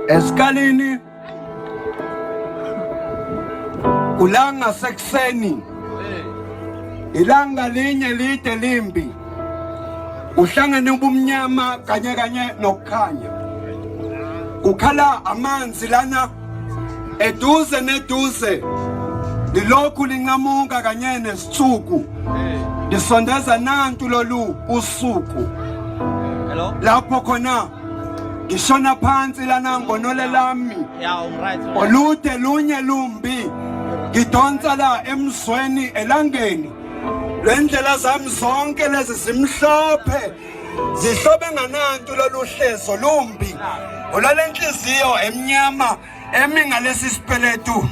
Esikalini kulanga sekuseni ilanga linye lide limbi uhlangene ubumnyama kanye kanye nokukhanya kukhala amanzi lana eduze neduze lilokhu linqamuka kanye nesithuku lisondeza nantu lolu usuku lapho khona ngishona phansi lana ngonole lami olude lunye lumbi ngidonsa la emzweni elangeni Lendlela zami zonke lezi zimhlophe zihlobe nganantu lolu hlezo lumbi olalenhliziyo emnyama emi ngalesi sipeletu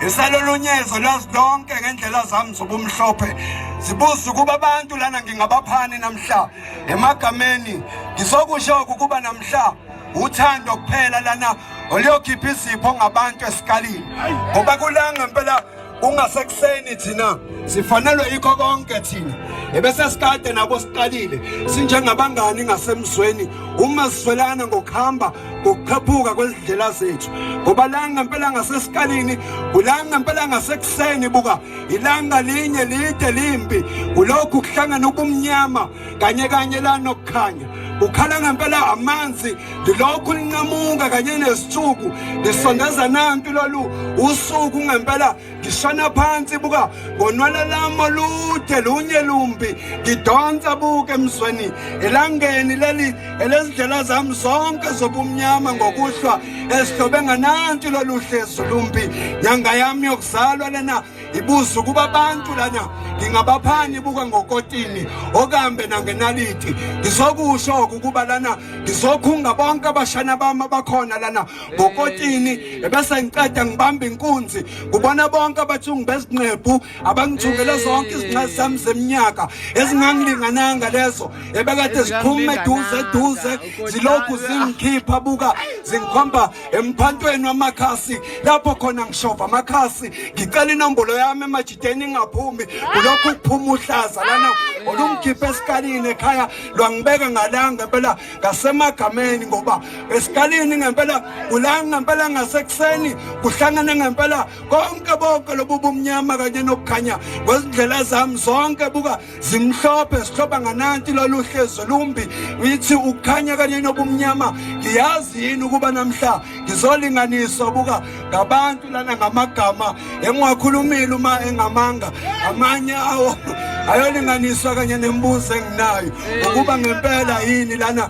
isalolunyezo lazi lonke ngendlela zami zobumhlophe zibuza ukuba abantu lana ngingabaphani namhla emagameni ngizokusho ukuba namhla uthando kuphela lana oluyokhipha izipho ngabantu esikalini ngoba kulanga impela kungasekuseni thina sifanelwe yikho konke thina ebese sikade nabo siqalile sinjengabangani ngasemzweni uma sizwelana ngokuhamba ngokukhaphuka kwezindlela zethu ngoba la ngempela ngasesikalini kula ngempela ngasekuseni buka ilanga linye lide limpi kulokhu kuhlangana ubumnyama kanye kanye la nokukhanya ukhala ngempela amanzi lilokhu linqamuka kanye nesithuku lisondeza nantu lolu usuku ngempela ngishona phansi buka ngonwala lami olude lunye lumbi ngidonsa buke emzweni elangeni leli elezindlela zami zonke zobumnyama ngokuhlwa esidobe ngananti lolu hlezu lumbi nyanga yami yokuzalwa lena ibuza ukuba abantu lana ngingabaphani buka ngokotini okambe nangenaliti ngizokusho ukuba lana ngizokhunga bonke abashana bami abakhona lana ngokotini ebese ngiqeda ngibamba inkunzi kubona bonke abathungu bezinqephu abangithungele zonke izinqe zami zeminyaka ezingangilingananga lezo ebekade ziphuma eduze eduze zilokhu zingikhipha buka zingikhomba emphantweni wamakhasi lapho khona ngishova amakhasi ngicela inombolo yami emajideni ingaphumi kulokhu kuphuma uhlaza lana olungikhipha esikalini ekhaya lwangibeka ngalanga ngempela ngasemagameni ngoba esikalini ngempela kulanga ngempela ngasekuseni kuhlangene ngempela konke bonke lobu bumnyama kanye nokukhanya kwezindlela zami zonke buka zimhlophe sihloba ngananti lolu hlezo lumbi ngithi ukukhanya kanye nobumnyama ngiyazi yini ukuba namhla ngizolinganiswa buka ngabantu lana ngamagama engiwakhulumile uma engamanga amanye awo ayolinganiswa kanye nembuzo enginayo ukuba ngempela yini lana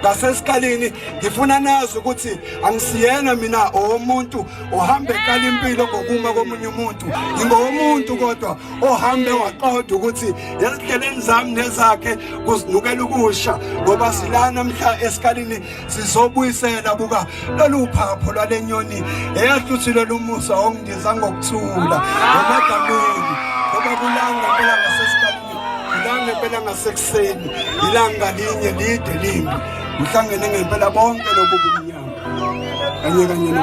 ngasesikalini ngifuna nazi ukuthi angisiyena mina owomuntu ohamba eqala impilo ngokuma komunye umuntu ngingowomuntu kodwa ohambe waqoda ukuthi ezihleleni zami nezakhe kuzinukela ukusha ngoba silana mhla esikalini sizobuyisela buka lolu phapho lwale nyoni eyahluthile lumusa ongindiza ngokuthula ngamagameni ngoba kulanga impela ngasesikalini Ilanga ngempela ngasekuseni, ilanga linye lide limbi. Ngihlangene ngempela bonke lobu bumnyama. Kanye kanye no.